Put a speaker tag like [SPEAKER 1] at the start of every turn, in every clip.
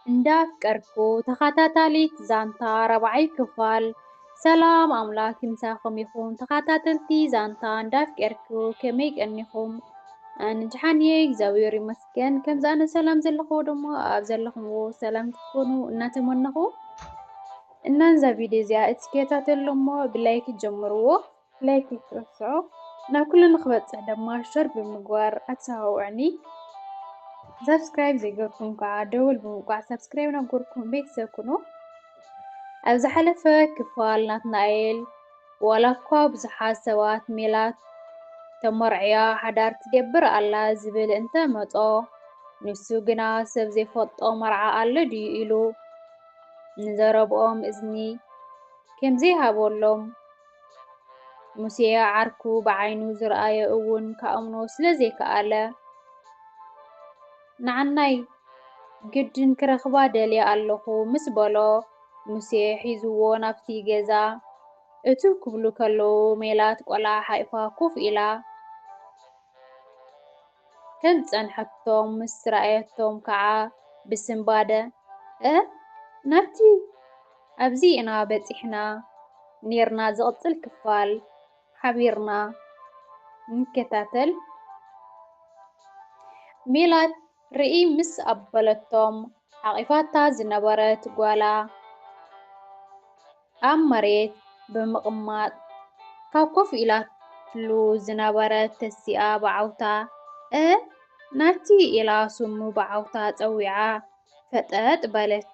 [SPEAKER 1] እንዳፍቀርኩ ተኻታታሊት ዛንታ ራብዓይ ክፋል። ሰላም ኣምላክ ምሳኩም ይኩን ተካታተልቲ ዛንታ እንዳፍቀርኩ ከመይ ቀኒኩም ኣንጅሓን እየ እግዚኣብሔር ይመስገን ከምዚ ኣነ ሰላም ዘለኩዎ ድማ ኣብ ዘለኩምዎ ሰላም ክትኮኑ እናተመነኩ እና እዛ ቪድዮ እዚኣ እትከታተሉ እሞ ብላይክ ጀምርዎ ላይክ ኣይትረስዑ ናብ ኩሉ ንክበጽሕ ደማ ሸር ብምግባር ኣተሳዋውዕኒ ሳብስክራይብ ዘይገርኩም ከዓ ደወል ብምውቃዕ ሳብስክራይብ ናብ ገርኩም ቤተሰብ ኩኑ ኣብ ዝሓለፈ ክፋል ናትናኤል ዋላ እኳ ብዙሓት ሰባት ሜላት ተመርዕያ ሓዳር ትገብር ኣላ ዝብል እንተ መጾ ንሱ ግና ሰብ ዘይፈልጦ መርዓ ኣሎ ድዩ ኢሉ ንዘረብኦም እዝኒ ከምዘይሃበሎም ሙሴ ዓርኩ ብዓይኑ ዝረኣዮ እውን ክኣምኖ ስለ ዘይከኣለ፣ ንዓናይ ግድን ክረኽባ ደልየ ኣለኹ ምስ በሎ፣ ሙሴ ሒዝዎ ናብቲ ገዛ እትው ክብሉ ከለዉ፣ ሜላት ቆልዓ ሓቊፋ ኮፍ ኢላ ከም ዝጸንሐቶም ምስ ረኣየቶም ከኣ ብስንባደ፣ እህ! ናብቲ ኣብዚ ኢና በጺሕና ኔርና ዝቕጽል ክፋል ሓቢርና ንከታተል። ሜላት ርእይ ምስ ኣበለቶም ሓቒፋታ ዝነበረት ጓላ ኣብ መሬት ብምቕማጥ ካብ ኮፍ ኢላትሉ ዝነበረት ተሲኣ ብዓውታ እህ ናቲ ኢላ ስሙ ብዓውታ ጸዊዓ። ፈጠጥ በለት።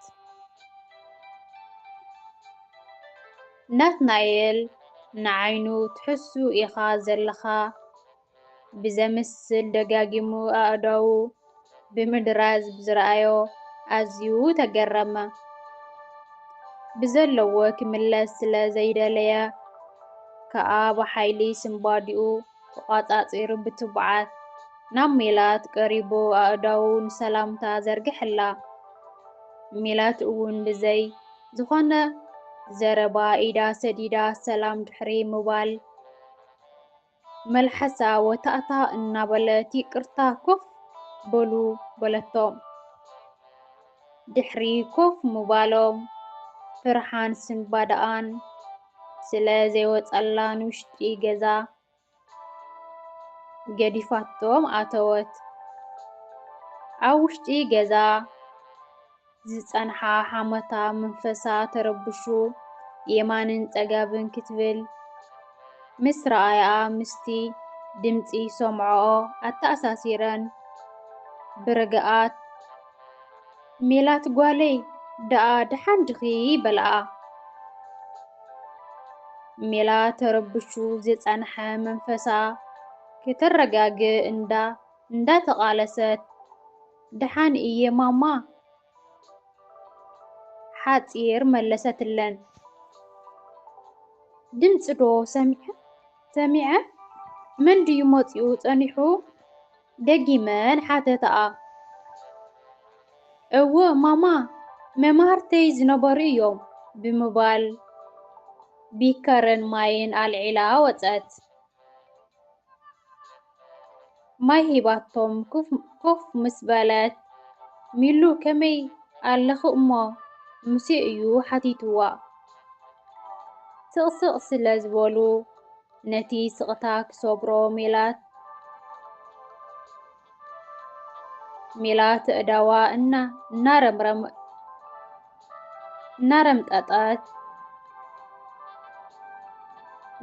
[SPEAKER 1] ናትናኤል ንዓይኑ ትሕሱ ኢኻ ዘለኻ ብዘምስል ደጋጊሙ ኣእዳዉ ብምድራዝ ብዝረኣዮ ኣዝዩ ተገረመ። ብዘለዎ ክምለስ ስለ ዘይደለየ ከኣ ብሓይሊ ስንባዲኡ ተቋጻጺሩ ብትብዓት ናብ ሜላት ቀሪቡ ኣእዳዉ ንሰላምታ ዘርግሐላ። ሜላት እውን ብዘይ ዝኾነ ዘረባ ኢዳ ሰዲዳ ሰላም ድሕሪ ምባል መልሓሳ ወታእታእ እናበለት ይቅርታ ኮፍ በሉ በለቶም። ድሕሪ ኮፍ ምባሎም ፍርሓን ስንባደኣን ስለ ዘይወጸላ ንውሽጢ ገዛ ገዲፋቶም ኣተወት። ኣብ ውሽጢ ገዛ ዝጸንሓ ሓሞታ መንፈሳ ተረብሹ የማንን ጸጋብን ክትብል ምስ ረኣያኣ ምስቲ ድምጺ ሰምዖኦ ኣተኣሳሲረን ብርግኣት ሜላት ጓለይ ደኣ ደሓን ድኺ? በልኣ። ሜላት ተረብሹ ዝጸንሐ መንፈሳ ከተረጋግእ እንዳ እንዳተቓለሰት ደሓን እየ ማማ ሓጺር መለሰትለን። ድምጺ ዶ ሰሚዐ? መን ድዩ መጺኡ ጸኒሑ? ደጊመን ሓተታኣ። እወ ማማ፣ መማህርተይ ዝነበሩ እዮም፣ ብምባል ቢከርን ማይን ኣልዒላ ወጸት። ማይ ሂባቶም ኮፍ ምስ በለት፣ ሚሉ ከመይ ኣለኺ እሞ ሙሴ እዩ ሓቲቱዋ። ስቕስቕ ስለ ዝበሉ፣ ነቲ ስቕታ ክሰብሮ ሜላት ሜላት እዳዋ እና እናረምረም እናረምጠጠት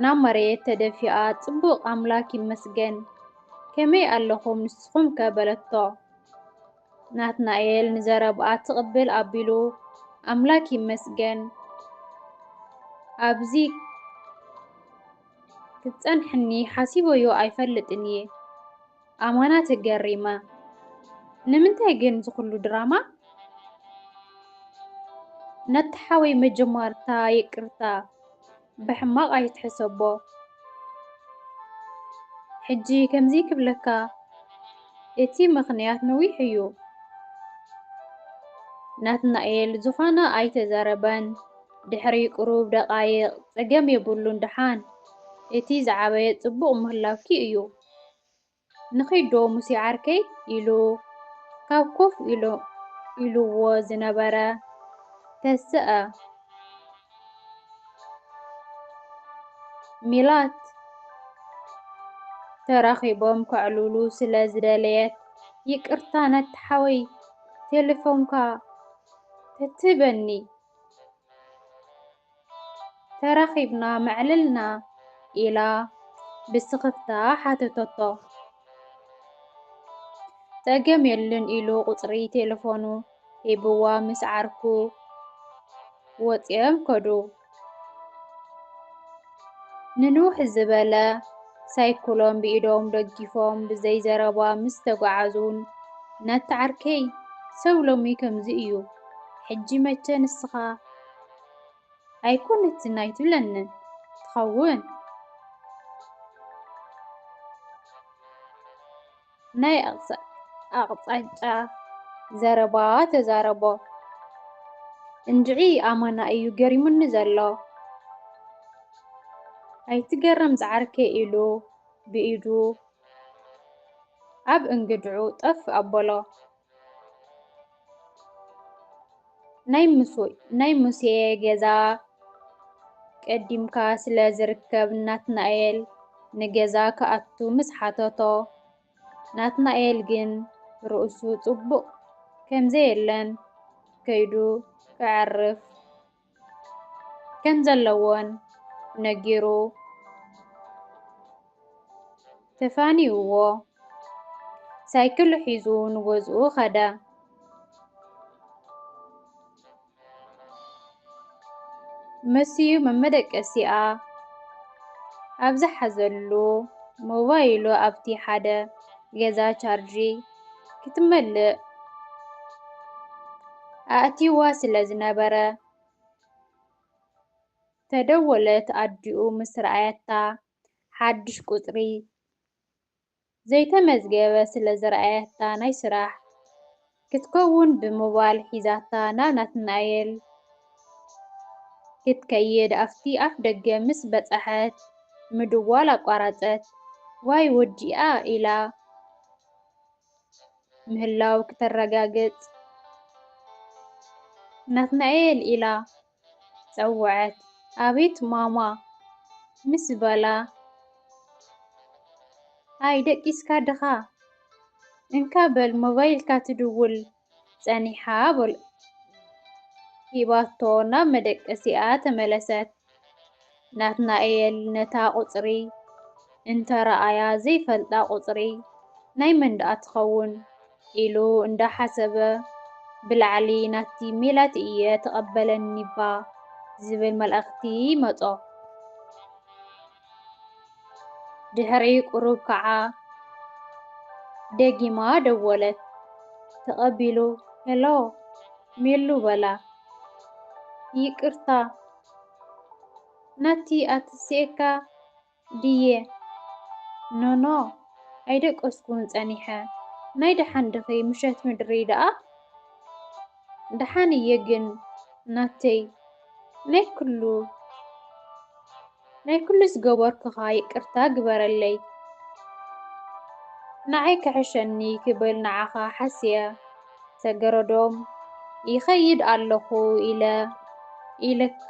[SPEAKER 1] ናብ መሬት ተደፊኣ ጽቡቕ ኣምላክ ይመስገን ከመይ ኣለኹም ንስኹም ከ በለቶ። ናትናኤል ንዘረብኣ ትቕብል ኣቢሉ፣ ኣምላክ ይመስገን ኣብዚ ክትጸንሕኒ ሓሲበዮ ኣይፈልጥን እየ። ኣማና ተገሪመ፣ ንምንታይ ግን ዝኹሉ ድራማ? ነቲ ሓወይ መጀማርታ ይቅርታ። ብሕማቅ ኣይትሕሰቦ ሕጂ ከምዚ ክብለካ እቲ ምኽንያት ነዊሕ እዩ ናትናኤል ዝኾነ ኣይተዛረበን ድሕሪ ቁሩብ ደቃይቅ ጸገም የብሉን ደሓን እቲ ዝዓበየ ጽቡቅ ምህላውኪ እዩ። ንኺድ ዶ ሙሴ ዓርከይ ኢሉ ካብ ኮፍ ኢሉዎ ዝነበረ ተስኣ ሚላት ተራኺቦም ከዕልሉ ስለ ዝደለየት ይቅርታ ነቲ ሓወይ ቴለፎንካ ተትህበኒ ተራኺብና መዕልልና? ኢላ ብስኽፍታ ሓተተቶ። ጸገም የሉን ኢሉ ቁጽሪ ቴለፎኑ ሂብዋ ምስ ዓርኩ ወጺኦም ከዱ። ንንውሕ ዝበለ ሳይክሎም ብኢዶም ደጊፎም ብዘይ ዘረባ ምስ ተጓዓዙን ነታ ዓርከይ ሰብ ሎሚ ከምዚ እዩ ሕጂ መቸ ንስኻ ኣይኮነትን ኣይትብለንን ትኸውን። ናይ ኣቕጻጫ ዘረባ ተዛረቦ። እንድዒ ኣማና እዩ ገሪሙኒ ዘሎ። ኣይትገረም ዝዓርከይ ኢሉ ብኢዱ ኣብ እንግድዑ ጠፍ ኣበሎ። ናይ ሙሴ ገዛ ቀዲምካ ስለ ዝርከብ ናትናኤል ንገዛ ክኣቱ ምስ ሓተቶ ናትናኤል ግን ርእሱ ጽቡቕ ከምዘየለን ከይዱ ከዕርፍ ከም ዘለዎን ነጊሩ ተፋኒውዎ ሳይክሉ ሒዙ ንገዝኡ ከደ። መሲዩ መመደቀሲኣ ኣብ ዝሓዘሉ ሞባይሉ ኣብቲ ሓደ ገዛ ቻርጂ ክትመልእ ኣእትይዋ ስለ ዝነበረ፣ ተደወለት ኣዲኡ ምስ ረኣየታ፣ ሓድሽ ቁጽሪ ዘይተመዝገበ ስለ ዝረኣየታ ናይ ስራሕ ክትከውን ብሞባል ሒዛታ ናብ ናትናኤል ክትከይድ ኣብቲ ኣፍ ደገ ምስ በጸሐት ምድዋል ኣቋረጸት። ዋይ ወዲኣ ኢላ ምህላዉ ክተረጋግጽ ናትናኤል ኢላ ጸወዐት። ኣቤት ማማ ምስ በላ ኣይ ደቂስካ ድኻ እንካ በል ሞባይልካ ትድውል ጸኒሓ በሉ ሂባቶ ናብ መደቀሲኣ ተመለሰት። ናትናኤል ነታ ቁጽሪ እንተ ረኣያ ዘይፈልጣ ቁጽሪ ናይ መን ደኣ ትኸውን ኢሉ እንዳ ሓሰበ ብላዕሊ ናቲ ሜላት እየ ተቐበለኒ'ባ ዝብል መልእኽቲ መጾ። ድሕሪ ቁሩብ ከኣ ደጊማ ደወለት። ተቐቢሉ ሄሎ ሜሉ በላ። ይቅርታ ናቲ ኣትሲኤካ ድየ? ኖኖ ኣይደቀስኩን ጸኒሐ። ናይ ደሓን ድኺ ምሸት ምድሪ ደኣ? ደሓን እየ ግን ናተይ ናይ ኩሉ ናይ ኩሉ ዝገበርኩኻ ይቅርታ ግበረለይ ንዓይ ክሕሸኒ ክብል ንዓኻ ሓስየ ሰገረዶም ይኸይድ ኣለኹ ኢለ ኢለካ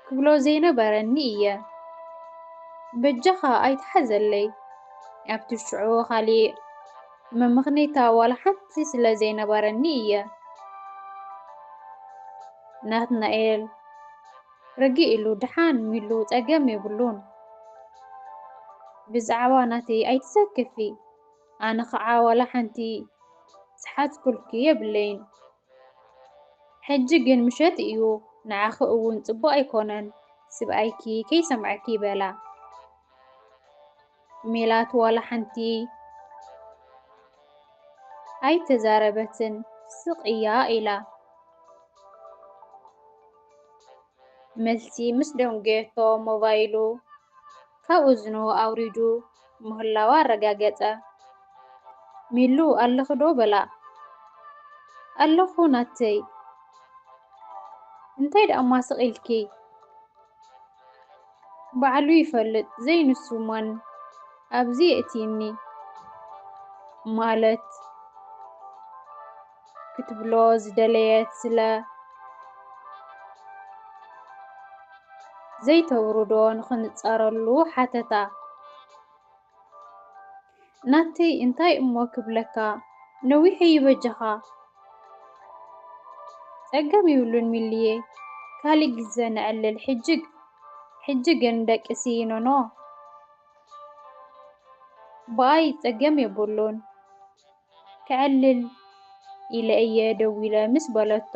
[SPEAKER 1] ክብሎ ዘይነበረኒ እየ በጃኻ ኣይትሓዘለይ ኣብቲ ሽዑ ካሊእ መመኽነይታ ዋላ ሓንቲ ስለ ዘይነበረኒ እየ። ናትናኤል፣ ርግእ ኢሉ፣ ደሓን ሚሉ፣ ጸገም የብሉን። ብዛዕባ ናተይ ኣይትሰክፊ፣ ኣነ ኸኣ ዋላ ሓንቲ ዝሓዝኩልኪ የብለይን። ሕጂ ግን ምሸት እዩ፣ ንዓኺ እውን ጽቡቕ ኣይኮነን፣ ስብኣይኪ ከይሰምዓኪ በላ። ሜላት ዋላ ሓንቲ ኣይተዛረበትን ስቕ እያ ኢላ መልሲ ምስ ደንጎየቶ ሞባይሉ ካብ እዝኑ ኣውሪዱ ምህላዋ ኣረጋገጸ። ሚሉ ኣለኺ ዶ በላ። ኣለኹ ናተይ እንታይ ደኣማ ስቕ ኢልኪ ባዕሉ ይፈልጥ ዘይ ንሱ ማን ኣብዚ የእቲኒ ማለት ክትብሎ ዝደለየት ስለ ዘይተውርዶ ንኽንጻረሉ ሓተታ። ናተይ እንታይ እሞ ክብለካ ነዊሑ እዩ በጃኻ። ጸገም ይብሉን ሚሊየ ካሊእ ግዘ ነዕልል ሕጂ ሕጂ ግን ደቂ ሲይኖኖ ብኣይ ጸገም የቡሉን። ከዕልል ኢለ እየ ደዊለ ምስ በለቶ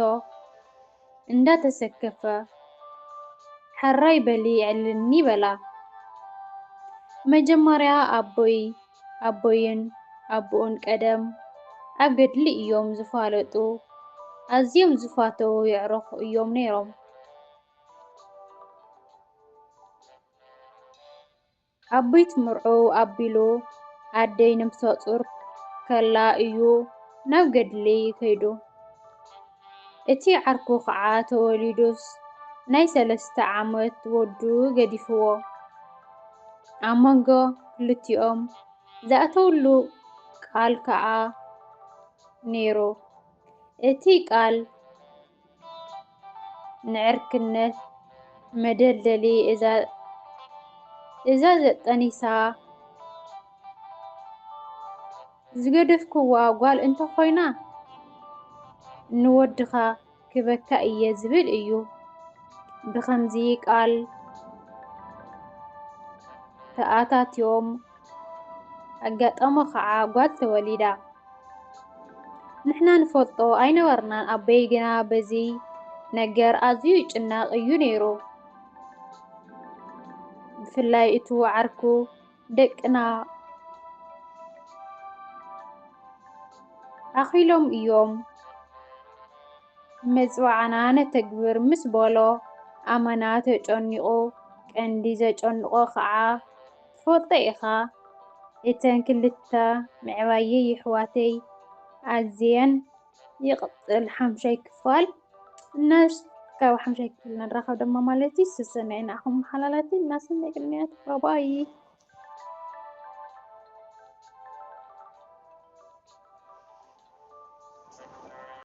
[SPEAKER 1] እንዳተሰከፈ ሐራይ በሊ ዕልልኒ በላ። ብመጀመርያ ኣቦይ ኣቦይን ኣቡኡን ቀደም ኣብ ገድሊ እዮም ዝፋለጡ ኣዝዮም ዝፋተዉ የዕሩኽ እዮም ነይሮም። ኣቤት ምርዑ ኣቢሉ ኣደይ ነብሰጹር ከላ እዩ ናብ ገድሊ ከይዱ እቲ ዓርኩ ከዓ ተወሊዱስ ናይ ሰለስተ ዓመት ወዱ ገዲፍዎ ኣብ መንጎ ክልቲኦም ዝኣተውሉ ቃል ከዓ ነይሩ እቲ ቃል ንዕርክነት መደልደሊ እዛ ዘጠኒሳ ዝገደፍክዋ ጓል እንተኾይና ንወድኻ ክበካ እየ ዝብል እዩ። ብኸምዚ ቃል ተኣታትዮም ኣጋጠሞ ኸዓ ጓል ተወሊዳ። ንሕና ንፈልጦ ኣይነበርናን ኣቦይ ግና በዚ ነገር ኣዝዩ ይጭነቕ እዩ ነይሩ። ብፍላይ እቱ ዓርኩ ደቅና ኣኺሎም እዮም መጽዋዕና ነተግብር ምስ በሎ ኣመና ተጨኒቑ ቀንዲ ዘጨንቖ ኸዓ ትፈልጦ ኢኻ እተን ክልተ ምዕባየይ የሕዋተይ ኣዝየን ይቅጽል ሓምሻይ ክፋል እና ካብ ሓምሻይ ክፍል ንራኸብ ደማ ማለት እዩ ሰሰናይ ንኣኹም ሓላላተይ እናሰናይ ቅንያት ባባይ